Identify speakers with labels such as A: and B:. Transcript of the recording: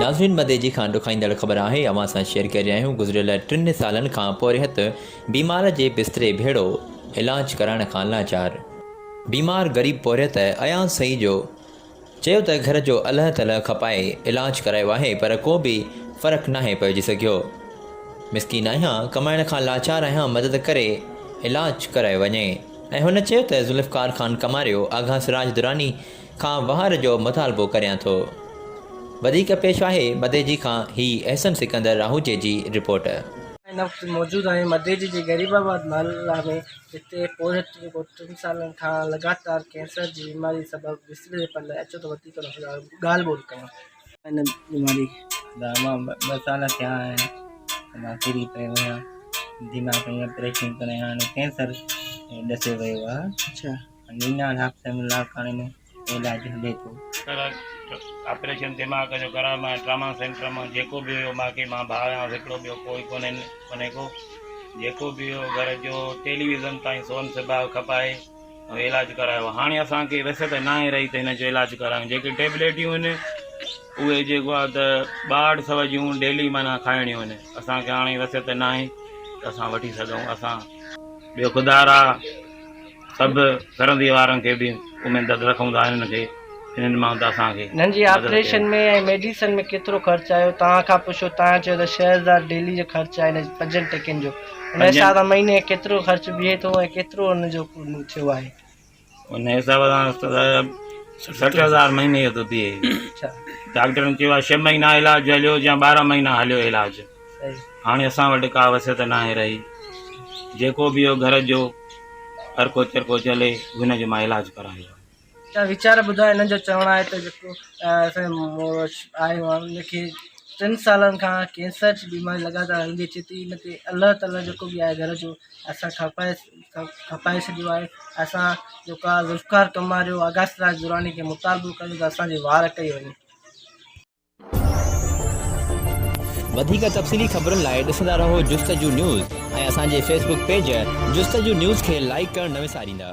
A: ناظرين مدي جي کان ڏکائيندڙ خبر آهي اوهان سان شيئر ڪري رهيا آهيون گذريل ٽن سالن کان پورهيت بيمار جي بستري ڀيڙو علاج ڪرائڻ کان لاچار بيمار غريب پورهيت اياز سئي جو چيو ته گهر جو الهه تلهه کپائي علاج ڪرايو آهي پر ڪو به فرق ناهي پئجي سگهيو، مسڪين آهيان، ڪمائڻ کان لاچار آهيان مدد ڪري علاج ڪرايو وڃي ۽ هن چيو ته ذوالفقار خان ڪماريو آغا سراج دراني کان وهار جو مطالبو ڪريان ٿو وڌيڪ پيش آهي مديجي کان هي احسن سڪندر راهوجي جي رپورٽ. هن وقت موجود
B: آهيون مديجي جي غريب آباد محله ۾ جتي پورهيت جو ٽن سالن کان لڳاتار ڪينسر جي بيماري سبب وسري پيل آهي، اچو ته وڌيڪ ان سان ڳالهه ٻولهه ڪيون. ان بيماري لاء مان
C: ٻه سال ٿيا آهن ته مان ڪري پيو آهيان، دماغ جي آپريشن ڪرائي هاڻي ڪينسر ڏسي ويو آهي. نينا
B: لاکٽي
C: لاڙڪاڻي ۾ علاج هلي ٿو. پر
D: آپريشن دماغ جو ڪرايو مان ٽراما سينٽر مان جيڪو به هيو ماکي مان ڀاء آهيان هڪڙو ٻيو ڪوئي ڪونهي ڪونهي ڪو جيڪو به هيو گهر جو ٽيليويزن تائين سون سباء کپائي ۽ علاج ڪرايو هاڻي اسان کي وسعت ناهي رهي ته هن جو علاج ڪرايون جيڪي ٽيبليٽيون هن اهي جيڪو آهي ته ٻاهٺ سو جون ڊيلي معنيٰ کائڻيون هن اسان کي هاڻي وسعت ناهي ته اسان وٺي سگهون اسان ٻيو خدارا سڀ سرندي وارن کي به اميد رکون ٿا انهن کي انهن مان ته اسان کي. انهن جي آپريشن
B: ۾ ۽ ميڊيسن ۾ ڪيترو خرچ آيو توهان کان پڇو توهان چيو ته ڇهه هزار ڊيلي جو خرچ آهي انهن پنجن ٽڪين جو ان حساب سان مهيني ڪيترو خرچ بيهي ٿو ۽ ڪيترو ان جو ٿيو آهي ان حساب
D: سان سٺ هزار مهيني جو ٿو بيهي ڊاڪٽرن چيو آهي ڇهه مهينا علاج هليو يا ٻارهن مهينا هليو علاج هاڻي اسان وٽ ڪا وسعت ناهي رهي، جيڪو به اهو گهر جو ارڪو چرڪو چلي، هن جو مان علاج ڪران اهو. ته ويچار
B: ٻڌاء هنن جو چوڻ آهي ته جيڪو اسان جي مڙس آهي ان کي ٽن سالن کان ڪينسر جي بيماري لڳاتار هلندي اچي ٿي ان تي الله تعالي جيڪو به آهي گهر جو اسان کپائي کپائي ڇڏيو آهي اسان جيڪو آهي ذوالفقار ڪماريو آغاث راج دراني کي مطالبو ڪيو ته اسان جي وار ڪئي وڃي.
A: وڌيڪ تفصيلي خبرن لاء ڏسندا رهو جستجو نيوز ۽ اسان جي Facebook page Justuju news کي لائيڪ ڪرڻ نه وساريندا.